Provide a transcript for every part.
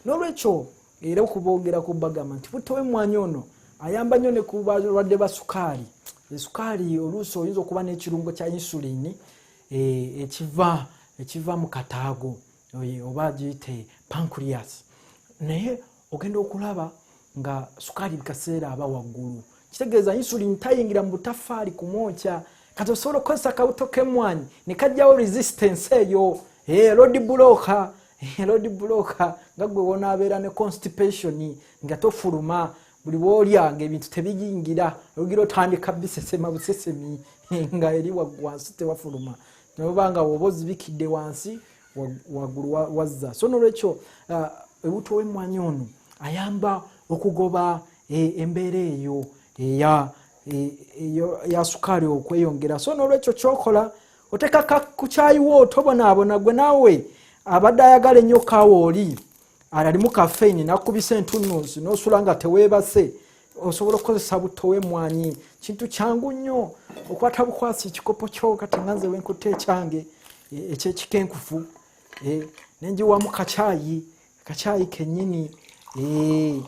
nolwekyo era okubogera ku bagamba nti butto wemwanyi ono ayamba nnyo ne ku balwadde ba sukaali esukaali oluusi oyinza okuba n'ekirungo kya insulini eh, ekiva ekiva mu kataago oba giyite pancreas naye ogenda okulaba nga sukaali bikaseera aba waggulu kitegeeza insulin tayingira mu butafaali kumwokya kati osobola okukozesa akawuto kemwanyi ne kajjawo resistance eyo eh, lodi bulooka eh, lodi bulooka nga gwe wonaabeera ne constipation nga tofuluma buli woolya ngaebintu tebiyingira ogira otandika bisesema busesemi nga eri wansi tewafuluma nobanga woba ozibikidde wansi waggulu wazza so nolwekyo uh, ewuto w'emmwanyi ono ayamba okugoba e, embeera eyo eya e, ya sukaali okweyongera so nolwekyo kyokola otekaka ku kyayiwo otobonaabona gwe naawe abadde ayagala ennyo kaawa oli alimu kafeini nakubisa entunuzi nosula nga tewebase osobola okukozesa butto wemwanyi kintu kyangu nnyo okwata bukwasi ekikopo kyo kati nga nze wenkutta ekyange e, ekyekikenkufu e, nenjiwamu kakyayi kakyayi kenyini e,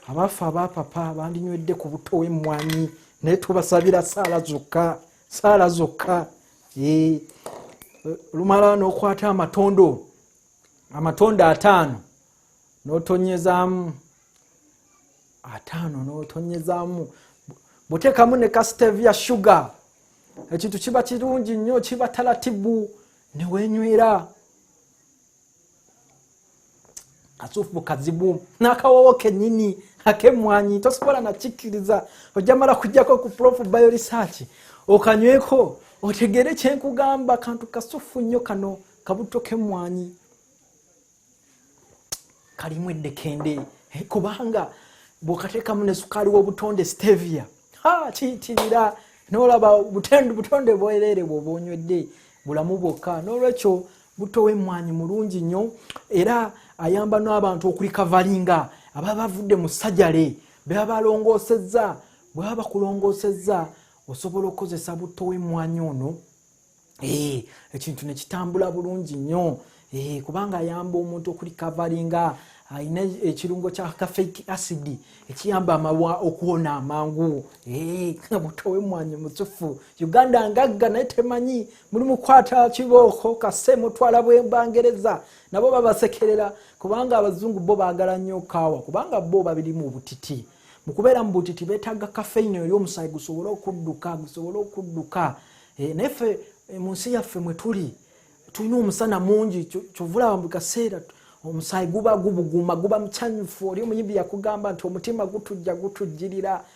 abaffe abapapa bandinywedde ku butto wemwanyi naye tubasabira saala zokka saala zokka lumala nokwata amatondo amatondo ataano notonyezaamu ataano notonyezaamu butekamu ne kastevia sugar ekintu kiba kirungi nnyo kiba talatibu newenywera kasufu mukazibu nakawowo kenyini akemwanyi tosobola nakikiriza ojamala kujjako ku prof bio research okanyweko otegere kyenkugamba kantu kasufu nnyo kano kabuto kemwanyi kalimu eddekende eh, kubanga bwokatekamu ne sukaali w'obutonde stevia ha kiyitirira nolaba butonde bwerere bwoba onywedde bulamu bwokka n'olwekyo butto w'emmwanyi mulungi nnyo era ayamba n'abantu okulikavalinga ababa bavudde mu sajale beba balongoosezza bweba bakulongoosezza osobola okukozesa butto w'emmwanyi ono eh, ekintu ne kitambula bulungi nnyo eh, kubanga ayamba omuntu okulikavalinga alina ekirungo kya kafeiki asidi ekiyamba amawa okuwona amangu eh, buto wemwanyi musufu uganda ngagga naye temanyi muli mukwata kibooko kase mutwala bwembangereza nabo babasekerera kubanga abazungu bo bagala nnyo kaawa kubanga bo babirimu obutiti mukubeera mu butiti betaaga kafeine eri omusayi gusobole okudduka gusobole okudduka eh, naye fe eh, mu nsi yaffe mwe tuli tulina omusana mungi kyovulaba mu kaseera omusayi guba gubuguma guba mucanyufu oli omuyimbi yakugamba nti omutima gutujja gutujjirira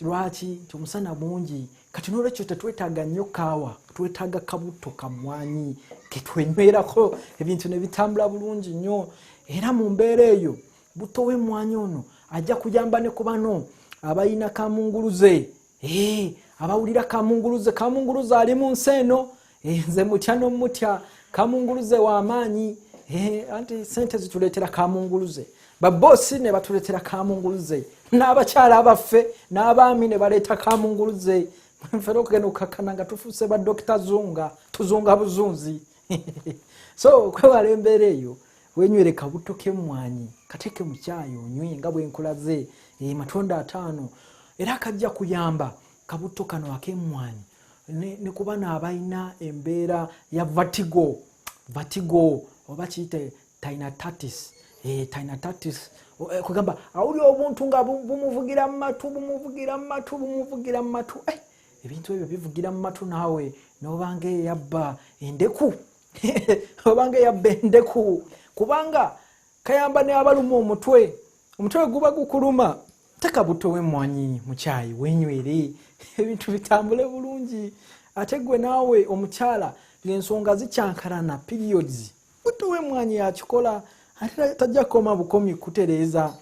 lwaki nti omusana mungi kati nolwekyo tetwetaaga nnyo kaawa twetaaga kabutto kamwanyi ketwenywerako ebintu nebitambula bulungi nnyo era mu mbeera eyo butto wemwanyi ono ajja kuyamba ne ku bano abalina kamunguluze abawulira kamunguluze kamunguluze ali mu nsi eno eh, nze mutya nomutya kamunguluze wamaanyi eh, anti sente zituleetera kamunguluze baboosi ne batuleetera kamunguluze n'abakyala abaffe n'abaami ne baleeta kamunguluze nfera okugenda okukakkana nga tufuuse ba dokita zunga tuzunga buzunzi so kwewala embeera eyo wenywere kabuto kemwanyi kateeke mukyayi onywe nga bwenkulaze eh, matunda ataano era kajja kuyamba kabuto kano akemwanyi ne ku bano abalina embeera ya vatigo vatigo oba kiyite tinatatis eh, tinatatis eh, kugamba awuli obuntu nga bumuvugira mu matu bumuvugira mu matu bumuvugira mu matu eh, ebintu ebyo bivugira mu matu naawe nobanga eyabba endeku obanga eyabba endeku kubanga kayamba ne abaluma omutwe omutwe guba gukuluma teka butto wemwanyi mukyayi wenywere ebintu bitambule bulungi ate gwe naawe omukyala ngaensonga zikyankalana periods butto wemwanyi yakikola ate tajja kukoma bukomi kutereeza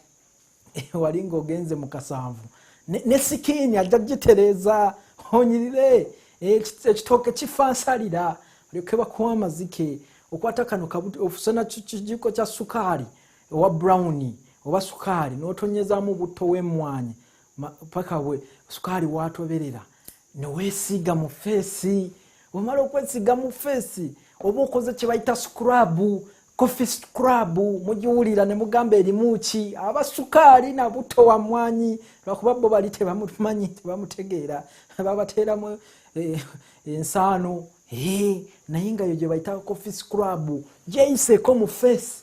wali ngaogenze mu kasanvu ne sikiini ajja gitereeza onyirire ekitooke kifa nsalira olyoke bakuwa amazike okwata kano ofuse nakijiko kya sukaali owa brown oba sukaali notonyezamu butto wemwanyi paka we sukaali watoberera newesiiga mu feesi omala okwesiiga mu feesi oba okoze kyebayita scrabu coffee scrub mugiwulira ne mugamba erimu ki aba sukaali na butto wa mwanyi lwakuba bo bali tebamumanyi tebamutegeera babateeramu eh, ensaano eh, naye nga yo gyebayita coffee scrub gyeyiseeko mu feesi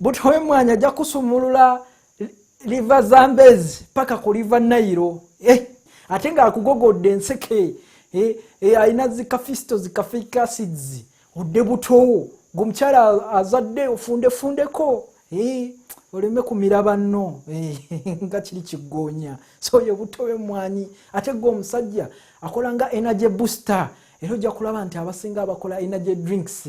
but wemwanya ajja kusumulula liva zambezi paka ku liva nairo eh, ate nga akugogodde enseke eh, eh, alina zikafisto zikafikasids odde butowo gweomukyala azadde ofundefundeko eh, oleme kumira banno eh, nga kiri kiggoonya so oyo buto wemwanyi ate gwe omusajja akola nga energy booster era ojja kulaba nti abasinga abakola energy drinks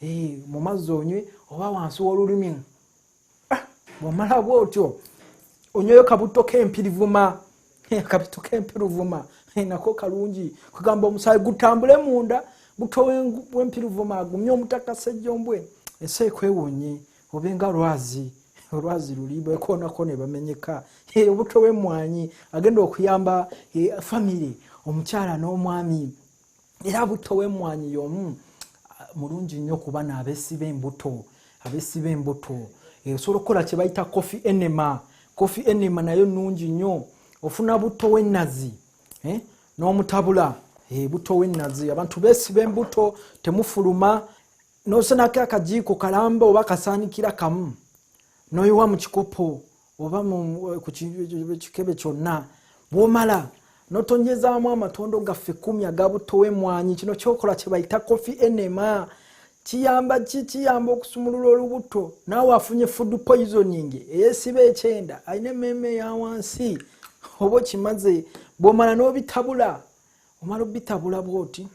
Hey, mu mazzi onywe oba wansi w'olulimi ah, bw'omala bw'otyo onyweyo kabutto k'empirivuma kabutto k'empirivuma nako kalungi kugamba omusaayi gutambule munda buto w'empirivuma agumye omutaka ssejjombwe ensi ekwewonye obenga lwazi olwazi luli bekonako ne bamenyeka obuto w'emmwanyi agenda okuyamba eh, famire omukyala n'omwami era butto w'emmwanyi y'omu ah, mulungi nnyo ku bana abesiba embuto abesiba embuto eh, osobola okukola kye bayita coffee enema coffee enema nayo nnungi nnyo ofuna butto w'ennazi eh, n'omutabula eh, butto w'ennazi abantu besiba embuto temufuluma nosenako akajiiko kalamba oba kasaanikira kamu noyiwa mu kikopo oba eh, ku kikebe kyonna bwomala notonyezaamu amatondo gaffe kumi agabutowa emwanyi kino kyokola kyebayita kofi enema kiyamba ki kiyamba okusumulula olubuto naawe afunye food poisoning eyesiba ekyenda alina emmeeme eyawansi oba okimaze bwomala nobitabula omala obitabula bwoti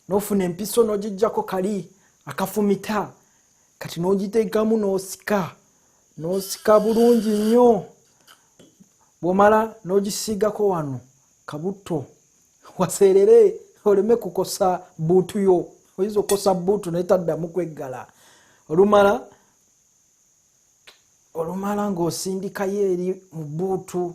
nofuna empiso nogijjako kali akafumita kati nogiteekamu nosika nosika bulungi nnyo bwomala nogisiigako wano kabutto waseerere oleme kukosa buutu yo oyinza okukosa buutu naye taddamu kweggala olumala olumala ng'osindikayo eri mu buutu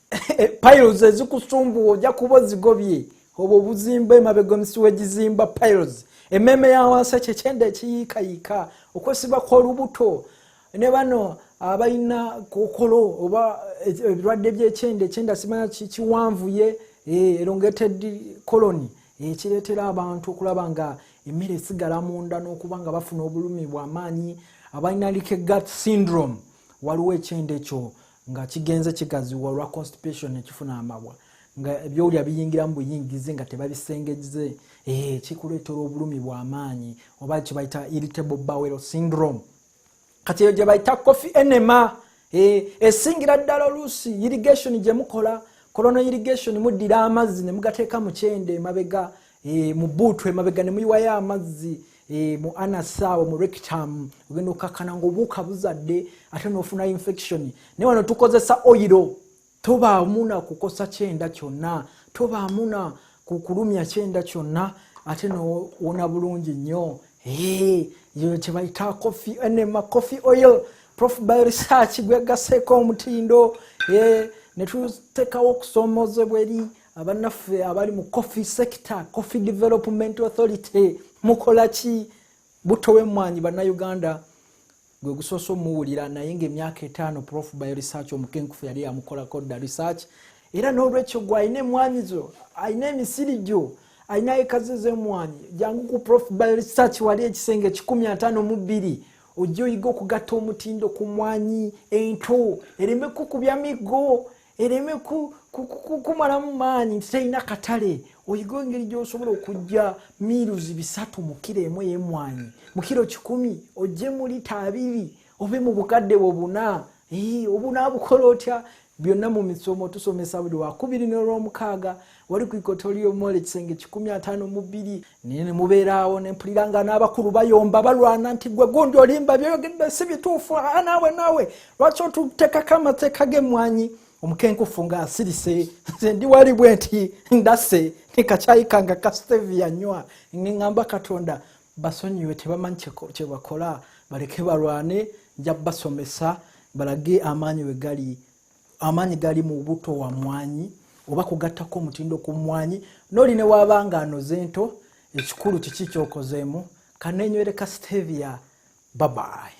piles ezikusumbuwa ojja kuba ozigobye obwo obuzimba emabega omusi wegizimba piles emmeeme ya wansi ekyo ekyenda ekiyiikayiika okwesiba kw'olubuto ne bano abalina kokolo oba ebirwadde byekyenda ekyenda simanya kiwanvuye eh, elongated colony ekireetera abantu okulaba nga emmere esigala munda n'okuba nga bafuna obulumi bwamaanyi abalina like gut syndrome waliwo ekyenda ekyo nga kigenze kigaziwa olwa constipation nekifuna amabwa nga ebyowulya biyingiramu buyingizi nga tebabisengeze ee eh, kikuleetera obulumi bwamaanyi oba kyebayita irritable bowel syndrome kati eyo gyebayita coffee enema eh, esingira ddala oluusi irrigation gyemukola kolono irrigation muddira amazzi nemugateeka mukyende emabega e, mu buutu emabega ne muyiwayo amazzi e, mu anasaawo mu rectum ogenda okkakkana ngaobuuka buzadde ate nofuna infection naye wano tukozesa oyiro tobaamu na kukosa kyenda kyonna tobaamu na kukulumya kyenda kyonna ate nowona bulungi nnyo e, kyebayita coffee enema coffee oil prof by research gwegaseeko omutindo e, ne tuteekawo okusoomozebwa eri abanaffe abali mu coffee sector coffee development authority mukolaki butto wemwanyi bannayuganda gwe gusoose omuwulira naye nga emyaka etaano prof by research omukenkufu yali yamukolako dda research era n'olwekyo gwe alina emwanyi zo alina emisiri gyo alina ekazi zemwanyi jangu ku prof by research wali ekisenge kikumi ataano mu bbiri ojja oyiga okugatta omutindo ku mwanyi ento ereme kukubya miggo ereme kumalamu maanyi nti talina katale oyiga engeri gyosobola okujja miiruzi bisatu mu kiro emu eyemwanyi mu kiro kikumi ojje mu lita abiri obe mu bukadde bwo buna obunaabukola otya byonna mu misomo tusomesa buli wakubiri n'olwomukaaga wali ku ikotoliomole ekisenge kikumi ataano mu bbiri naye nemubeeraawo nempulira nga n'abakulu bayomba balwana nti gwe gundi olimba byoyogedde si bituufu a naawe naawe lwaki otutekako amateeka g'emmwanyi omukenkufu nga asirise nze ndi wali bwe nti ndase nekakyayika nga kastevia nywa ngeŋamba katonda basonyiwe tebamanyi kyebakola baleke balwane nja basomesa balage amaanyi we gali amaanyi gali mu buto wa mwanyi oba kugattako omutindo ku mwanyi noli ne waaba nga anoze ento ekikulu kiki kyokozeemu kanenywere ka stevia babayi